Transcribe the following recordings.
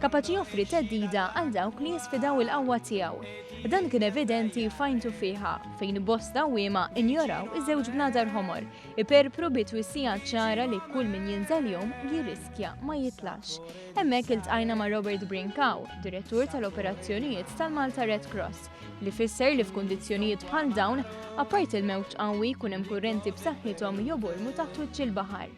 kapaċi joffri theddida għal dawk li jisfidaw il-qawwa tiegħu. Dan kien evidenti fajntu fiha, fejn bost dawwiema injoraw iż-żewġ bnadar ħomor, iperpru bi twissija ċara li kull min jinżel jom jirriskja ma jitlax. Hemmhekk iltqajna ma' Robert Brinkaw, direttur tal-operazzjonijiet tal-Malta Red Cross, li fisser li f'kundizzjonijiet bħal dawn, apparti il-mewġ qawwi jkun hemm kurrenti b'saħħithom jobormu taħt wiċċ il-baħar.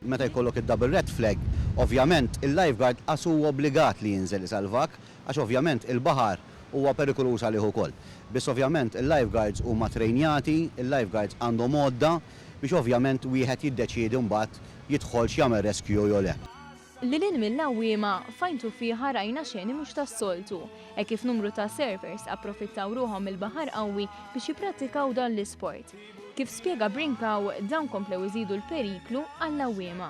Meta jkollok id-double red flag, ovvjament il-lifeguard qas hu obbligat li jinżel isalvak, għax ovvjament il-baħar huwa perikoluż għalih ukoll. Biss ovvjament il-lifeguards huma ttrejnjati, il-lifeguards għandhom għodda biex ovvjament wieħed jiddeċiedi mbagħad jidħolx jagħmel rescue jew le. Lil hinn mill-għawwiema, f'Għajn Tuffieħa rajna xeni mhux tas-soltu, hekk kif numru ta' surfers approfittaw ruħhom mill-baħar qawwi biex jipprattikaw dan l-isport. Kif spjega Brincau, dawn komplew iżidu l-periklu għall-għawwiema.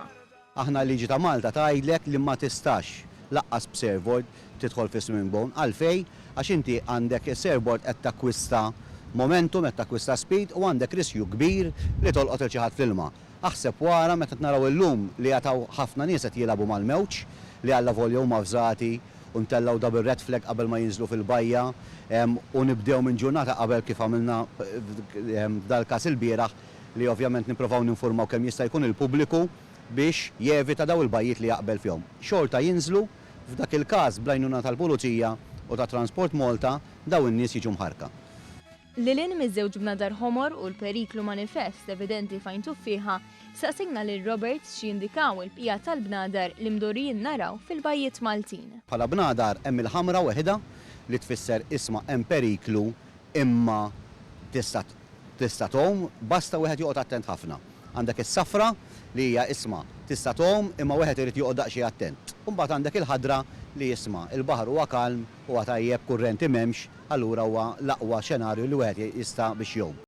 Aħna l-liġi ta' Malta tgħidlek li ma tistax lanqas b'surfboard tidħol fis-swimming bone. Għalfejn? Għax inti għandek is-surfboard qed takkwista momentum, qed takkwista speed u għandek riskju kbir li tolqot lil xi ħadd fl-ilma. Aħseb wara meta qed naraw illum li għad hawn ħafna nies qed jilagħbu mal-mewġ li allavolja huma avżati, u ntellgħu double red flag qabel ma jinżlu fil-bajja u nibdew minn ġurnata qabel kif għamilna f'dal-każ ilbieraħ li ovvjament nipprovaw ninfurmaw kemm jista' jkun il-pubbliku biex jevita dawn il-bajjiet li jaqbel fihom. Xorta jinżlu, f'dak il-każ bl-għajnuna tal-Pulizija u ta' Transport Malta dawn in-nies jiġu mħarrka. Lil hinn miż-żewġ bnadar ħomor u l-periklu manifest evidenti f'għajn tuffieħa, staqsejna lil Roberts x'jindikaw il-bqija tal-bnadar li mdorrijin naraw fil-bajjiet Maltin. Bħala bnadar hemm il-ħamra weħidha li tfisser isma' hemm periklu imma tista' tista' tgħum, basta wieħed joqgħod attent ħafna. Għandek is-safra li hija isma' tista' tgħum imma wieħed irid joqgħod daqsxejn attent. U mbagħad għandek il-ħadra li isma' il-baħar huwa kalm Huwa tajjeb, kurrenti m'hemmx, allura huwa l-aqwa xenarju li wieħed jista' biex jgħum.